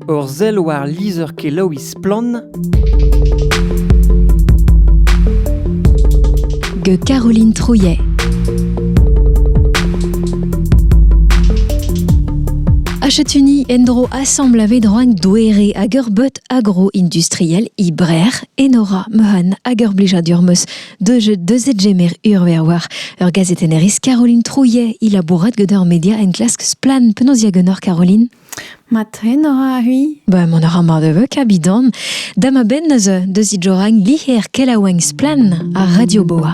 Ur sell war lizher-kelaouiñ Splann! gant Caroline Trouillet. Achète-Uni endro assemble a vedroan douere hag ur but agro-industriel ibrer enora mehan hag ur blejadurmeus de jeu de zedjemer urver war ur gazetenneris Caroline Trouillet il labourat gant ur media enklask splan penaos diagonor Caroline Ma trenora-hui Ba, mont a ra mar de veu kabidan Da ma benn eus deus idjoragn liher kelaouenn Splann ar Radio Boa.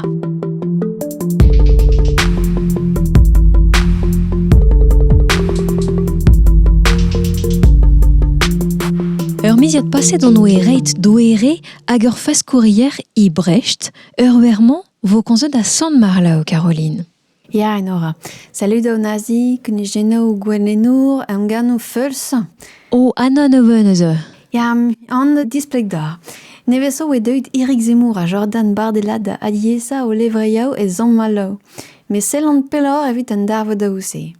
Ur miziad paset on oe reit doere hag ur faskourier e Brecht, ur wer-mañ vo konzet a Sant-Marlaou, Caroline. Ya, Enora. Salud an Nazi, kunujennoù gouennoù, emgannoù feuls. O, Anna ne ven eus eu. Ya, an displeg da. Nevesañ eo deuet Erik Zemmour ha Jordan Bardelad da aliesañ o levriaoù e zamm-allav. Met sellan pelloc'h evit an darvoudoù-se.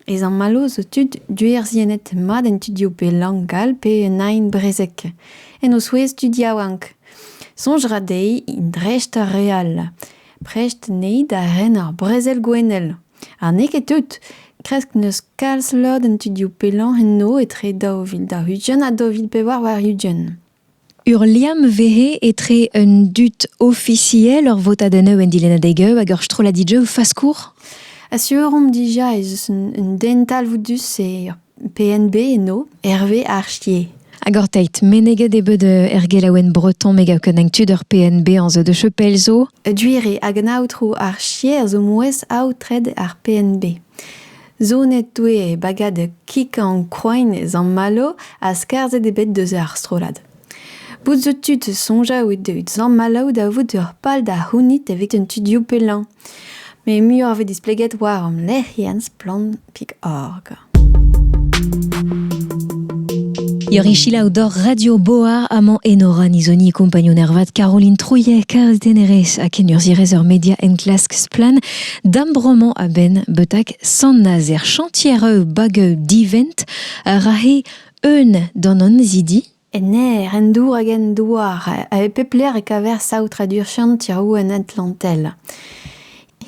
Ez an mallozh zo tud duerzhiennet mat en tudioù pe lang all pe un aen brezhek, en o souezh tud yaouank. Soñj 'ra dezhi dreist ar re all, prest anezhi da ren ar brezel gouennel. Ha n'eo ket tout, kresk n'eus kalz lod en tudioù pe lañs enno etre daou vil daou-ugent ha daou vil pevar warn-ugent. Ur liamm vehe etre un dud ofisiel, ur votadennoù en dilennadeg-eu hag ur strolladig-eu faskour ? Asur omp dija ez eus un, un den talvoudus e ur PNB eno, Herve Archier. Hag orteit meneget eo bet er gelaouenn breton me gav ken tud ur PNB an zo de chepel zo. Duire hag an aotrou Archier zo mouezh aotred ar PNB. Zonet eo e bagad kikañ ankroaen e Zammalo ha skarzhet eo bet deus ar strollad. Bout zo tu da soñjal out evit Zammalo da vout ur pal da c'hounit evit an studioù pellañ. Met muioc'h vez displeget war hom lec'hienn splann.org. Yorichila Odor Radio Boar amañ Enora Nizoni kompagnon ervat Caroline Trouillet karzh denerez ha kenurzhierez ur media enklask Splann D'am bromañ a-benn betak Sant-Nazer chantier bag divent a ra he eun d'an annezidi Ner, en dour hag en douar, e pep lec'h e kaver saotradur chantiroù en Atlantel.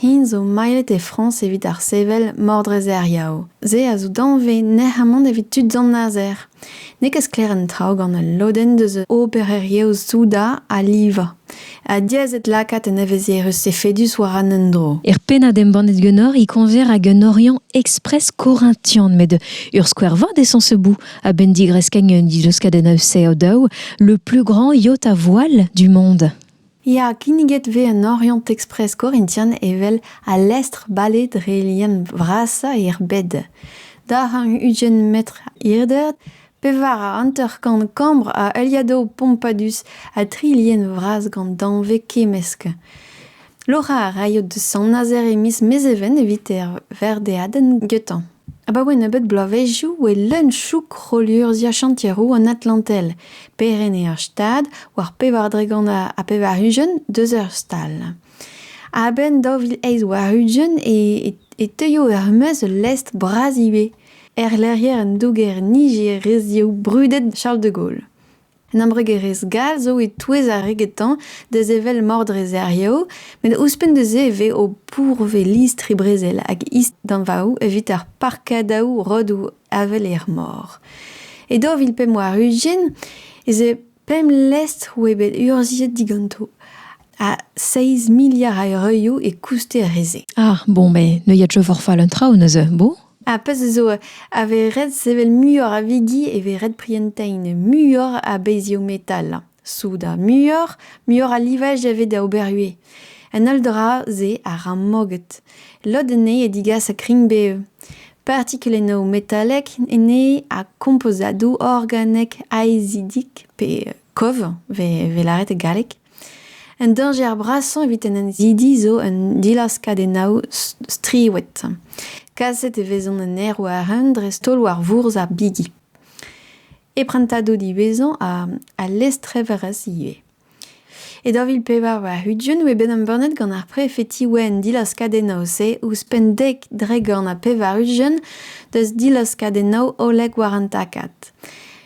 Hi zo mailhet e Frañs evit ar sevel Mordrezeriaou. Se a zo danvez nec'hamant evit tud Sant-Nazer. N'eo ket sklaer an traoù gant ul lodenn deus obererezhioù soudard a livañ. Ha diaes eo lakaat un evezhierezh efedus war an endro. Er pennad embannet ganeoc'h e koñver hag un Oriant Express Corinthian met ur skouer vat eo sañseboù a-benn digreskiñ un dileuskadenn a-sev daou, le plus grand yacht à voile du monde. Ya, kinniget 'vez en Oriant Express Corinthian evel al lestr-bale dre lien vrasañ er bed. Darn ugent metr hirder, pevar ha hanter-kant kambr a heuliadoù pompadus ha tri lien vras gant danvez kemmesk. Loc'hañ a raio da Sant-Nazer e miz Mezheven evit er verdeadenn getañ. Abaoe nebeut bloavezhioù e leun chouk rollurzhiañ chantier-roue an Atlantel, perc'henn ur stad war pevar dregont ha pevar-ugent deus ur stal. A-benn daou vil eizh warn-ugent e teuio er-maez ul lestr bras ivez, erlec'hier an douger nijerezioù brudet Charles de Gaulle. Un embregerezh gall zo e-touez ar re getañ da sevel mordreserioù met ouzhpenn da se e vez o pourvez listri-brezel hag isdanvaoù evit ar parkadaoù rodoù avel er mor. E daou vil pemp warn-ugent ez eo pemp lestr oa bet urzhiet diganto ha seizh miliard a eurioù e kouster re-se. Ah bon, mais neuiet je forfait un traoù neuze, beau. Ar pezh zo a vez ret sevel muioc'h a vigi e vez ret prientañ muioc'h a bezhioù metal. Soudard muioc'h, muioc'h a livaj a vez da ober ivez. An holl dra-se a ra moged. Lod anezhe a digas kringbev. Partikulennoù metalek anezhe ha kompozadoù organek aezidik pe kov 'vez lâret e galleg. Un dañjer brasañ evit en annezidi zo un dilaskadennaoù striwet. Kaset e vezont en aerwaren dreist-holl war vourzh ar bigi. E prantadoù diwezhañ ha lestreverezh ivez. E daou vil pevar warn-ugent e oe bet embannet gant ar prefetiñ-ouenn an dilaskadennaoù-se ouzhpenn dek dregont ha pevar-ugent deus dilaskadennaoù hollek war an takad.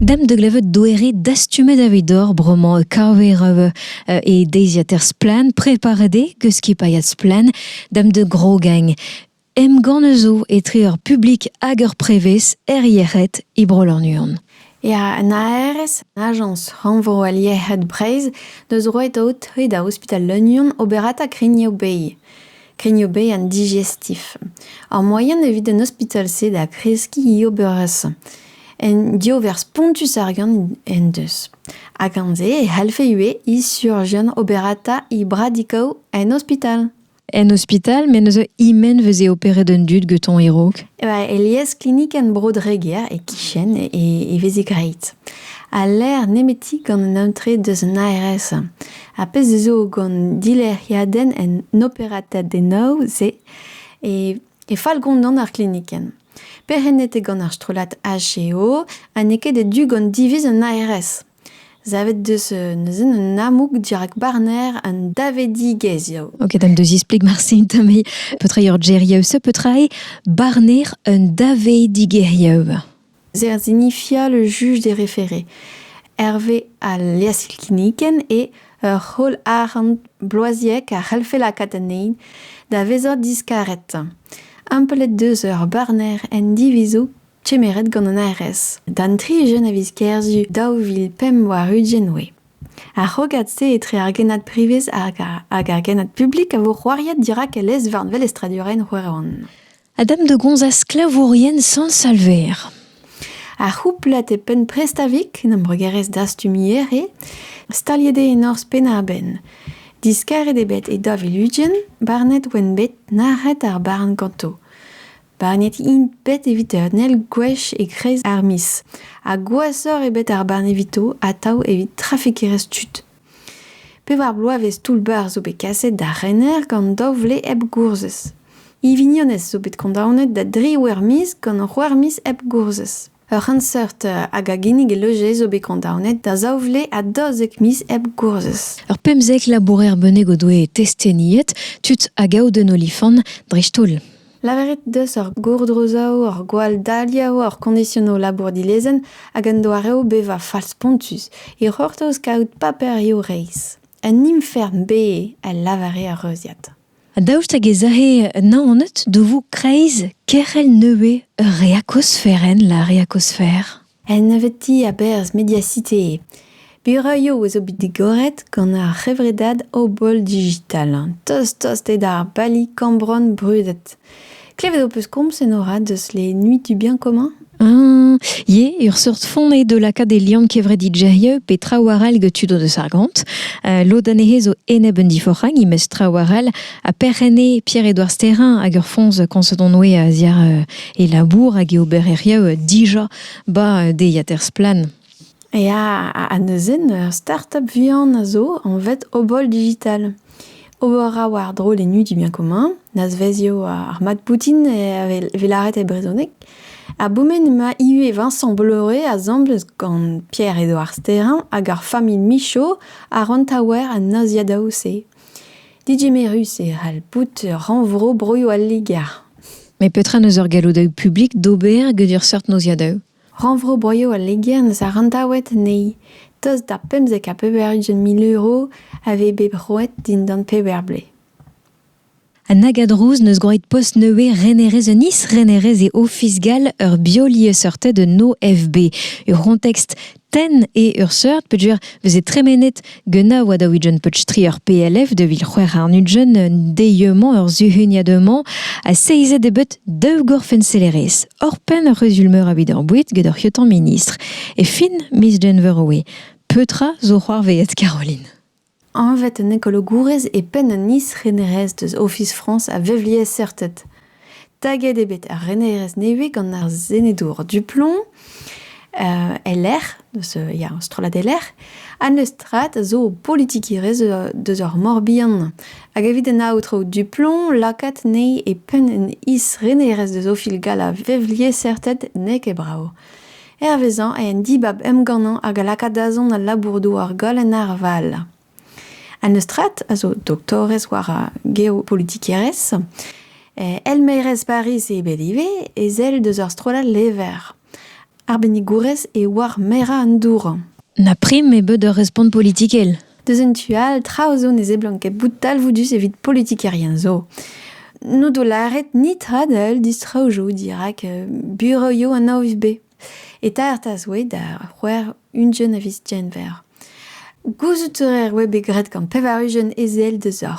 Demp da glevet doere dastumet evidoc'h bremañ kaver euh, e deiziater Splann, preparet eo eus skipailhad Splann demp da grogagn. Emgann eus etre ur publik hag ur prevez er yec'hed e Bro-Lannuon. Ya, an ARS, Agence Rannvro al Yec'hed Breizh, deus roet out e da ospital Lannuon oberata Grignoù-Bay. Krignobein an digestif. Ar moaien evit an ospital-se da kreskiñ oberezh un diover spontus ar gant en deus. Ha gant-se e c'hallfe ivez he surjian oberata he bradikaoù en ospital. En ospital, me neuze he-men veze operet an dud getoñ e-raok. Alies klinik en Bro-Dreger, e-kichen, e veze graet. Ha lec'h nemeti gant an aotre deus an ARS. Ar pezh zo gant dilec'hiadenn en operatadennoù-se e fall gondon ar glinikenn. Perc'hennet eo gant ar strollad HEO ha n'eo ket e-du gant diviz an ARS. Savet deus neuze un amoug dirak barner an davedigezhioù. Ok, d'am deus isplik marse tamm petra eo ur geriaouiñ, petra eo barner un davedigezhioù. Zer zinifia le juj d'e referé. Hervez al liasilkinnikenn eo ur c'holl arc'hant bloaziek a c'hellfe lakaat anezhi da vezañ diskaret. Amplet deus ur barner en divizoù kemeret gant an ARS d'an tri jeune a viz Kerzu daou vil pemp warn-ugent oe. Ar c'hrogad-se etre ar genad privez hag ar genad publik a vo c'hoariet dirak e lez-varn velestradurel Roeron. a dam da gomzañ sklavourien Sant-Salver. Ar c'houplad e penn Prestavik, en embregerezh dastumier, eo staliet eo e norzh Penn-ar-Benn. Diskaret eo bet e Daviludien, barnet oant bet nac'het ar barn ganto. Barnet int bet evit ernel gwech e-kreiz ar miz. Ha gwashoc'h eo bet ar barn evito atav evit trafikerezh tud. Pevar bloavezh toull-bac'h zo bet kaset d'ar rener gant daou vle hep gourzhez. He vignonez zo bet kondaonet da dri wer-miz gant ur c'houarmiz hep gourzhez. Ur c'henseurt hag a ginnig e loje zo bet kondaonet da zaou vle ha daouzek miz hep gourzhez. Ur pemzek labourer bennak o doe testeniet, tud a gaout un olifant dreist-holl. Lavaret deus ur gourdrozaoù, ur gwall-daliañ, ur koñdisionoù labour dilezenn hag un doareoù bevañ fall-spontus e c'hortoz kaout paperioù reizh. Un infern bez, a lavare ar reuziad. Daoust hag ez aje Naoned da vout kreiz kerc'hell nevez ur reakosferenn, la reakosfer? En nebeutiñ a berzh Mediacité bureaioù a zo bet digoret gant ar c'hevredad Obol Digital, tost-tost eo d'ar bali kambron brudet. Klevet ho peus komz en orad eus les Nuits du Bien Commun Ah, eo ur seurt font eo da lakaat e liamm kevrediderieu pe traoù arall get tud o deus ar gont. Uh, lod anezhe zo enep un diforc'hag, imez traoù arall, ha perc'h ene Pierre-Edouard Sterrin hag ur foñs koñset on oe a-ziàr uh, e labour hag e obereriou dija 'ba deiziater Splann! Ya, ha neuze ur start-up vihan a zo anvet Obol Digital. Ober a war drollennoù dimien commun, nazvezio ar mat boutin e laret e brezhoneg. A boumen emañ ivez Vincent Bleuret asambles gant Pierre-Edouard Sterrin hag ar familh Michaud a ran taouer an naziadaoù-se. Digemerus e c'hall bout rannvro broioù al Liger. Met petra n'eus ur galloudaoù publik d'ober get ur seurt noziadaoù? Rannvro broioù al Liger n'eus ar rantaoued anezhi. Tost da pemzek ha pevar ugent mil euro a vez bet roet dindan peder blez. An Agadrouz n'eus gwraet post nevez renerez un is-renerez e Ofis gall ur biolieseurted un OFB. Ur c'hontekst tenn eo ur seurt peogwir veze tremenet Guna oa da ouijen peutri ur PLF de vil c'hwec'h arnudjen deieux-mañ ur zuhuniad-mañ ha seizet eo bet daou gorfenselerez. Hor penn ur c'huzul meur a bit ar boued get hor c'hiotan ministr. E fin miz Genver oe. Petra zo c'hoarveet Caroline? Anvet an ekologourez e penn an is-renerezh deus Ofis Frañs a vevliesseurted. Taget eo bet ar renerezh nevez gant ar senedour Duplomb e-lec'h, deus ya, strollad e-lec'h, ha n'eus strat a zo politikerezh deus ar Mor-Bihan. Hag evit an aotrou Duplomb, lakaat anezhi e penn an is-renerezh deus Ofis gall a vevliesseurted n'eo ket brav. Hervezañ eo an dibab emgannañ hag a laka dazont al labour-douar goll en arval. An Eustrat a zo doktorez war ar geopolitikerezh. Eh elmaerez Pariz eo bet ivez, ezel deus ur strollad lever. Arbennigourez eo war merañ an dour. Na prim eo bet ur respont politikel. Deus en tu all, traoù zo ne seblant ket bout talvoudus evit politikerien zo. N'o do lâret ni tradell distro zo dirak euh, bureau an AOVB. Eta ertas oe da c'hwer ungent a vis genver. Gouzout er oe bet graet gant pevar ugent ezel deus ar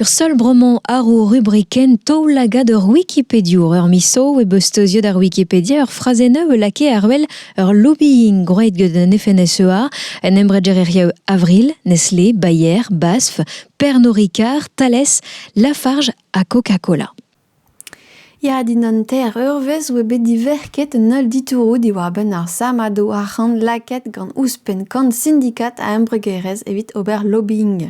Ur seul bromañ àr ho rubrikenn taoulagad ur wikipediour. Ur misoù e beus steuziet ar Wikipedia ur frazenn a lakae àr wel ur lobbying gwraet gant an FNSEA, un embregerezhioù Avril, Nestlé, Bayer, Basf, Pernod Ricard, Thales, Lafarge ha Coca-Cola. Ya, dindan ter, ur wezh oa bet diverket un holl ditouroù diwar-benn ar sammadoù arc'hant lakaet gant ouzhpenn kant sindikad a embregerezh evit ober lobbying.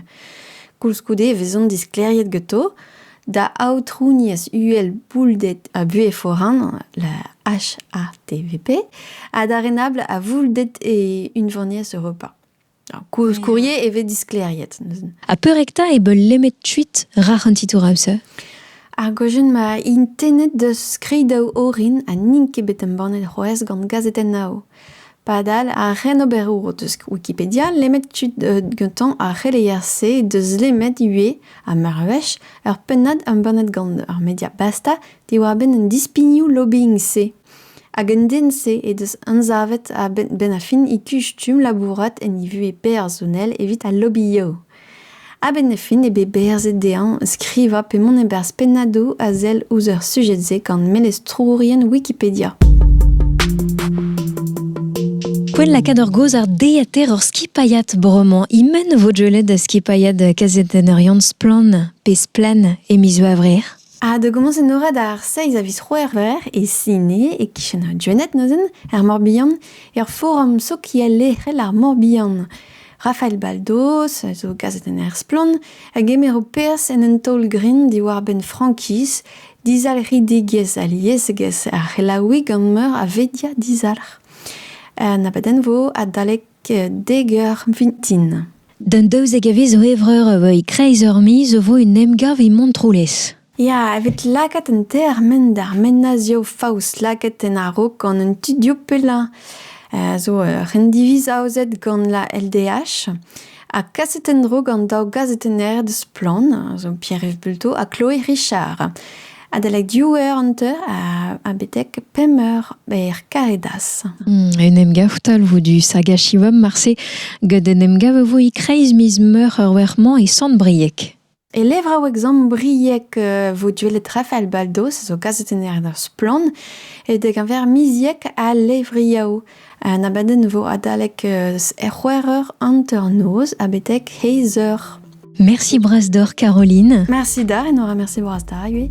Koulskoude e vezont disklêriet ganto da aotrouniezh uhel boulded ha buhez foran, la HATVP, ha da renabl a voulded e Unvaniezh Europa. Koulskourie e vez disklêriet. Ha peurekta e beul lemet tuit rac'h an titour aouse? Ar gojun ma int tennet deus skridaou orin ha n'int ket bet embannet c'hoazh gant gazetennaoù. Padal, ar c'henoberour deus Wikipedia lemet kuit gantañ ar c'heleier-se deus lemet ivez, ha meur a wech, ur pennad embannet gant ur media basta diwar-benn an dispignoù lobbying-se. Hag an den-se he deus anzavet a-benn ar fin e kuch stumm labourat en e vuhez personel evit al lobby-yow. A-benn ar fin eo bet berzet dezhañ skrivañ pe mont e-barzh pennadoù a sell ouzh ar sujed-se gant melestourien Wikipedia. Poent lakaat ur gaoz ardeater hor skipailhad bremañ. E-men vo deuet da skipailhad kazetenner Yann Splann. Pe Splann e miz Gevrer. Ha da gomañs enoret ar seiz a viz C'hwevrer e Sine, e-kichen Gwened neuzen, er Mor-Bihan, er forum sokial lec'hel ar Mor-Bihan. Rafael Baldos a zo gazetenner splann a gemero perzh en un taol-grin diwar-benn frankiz, dizalc'hidigezh aliesegezh ar c'helaouiñ gant meur a vedia dizalc'h. Un abadenn vo adalek Degar vintin. D'an daouzek a viz zo evreur a voe e-kreiz ur miz o vo un emgav e Montroulez. Ya, evit lakaat an termen d'ar menazioù faos lakaet en a-raok gant an tudioù pellañ a zo ur c'hendiviz aozet gant la LDH ha kaset en-dro gant daou gazetenner deus Splann, zo Pierre-Yves Bulto ha Chloé Richard. Adalek div eur an teu ha betek pemp eur ber Karedas. En em gav talvoù du Sagashivum marse gant en em gav vo e-kreiz miz meur ur wer-mañ e Sant-Brieg. E levraou examen briek e vo duellet Rafael Baldos, zo kaset en eur splann, e dek a ver miziek a levriaou. An abadenn 'vo adalek er c'hwec'h eur hanter-noz ha betek heiz eur. Merci Brasdor Caroline. Merci da, et nous remercie Brasdar, oui.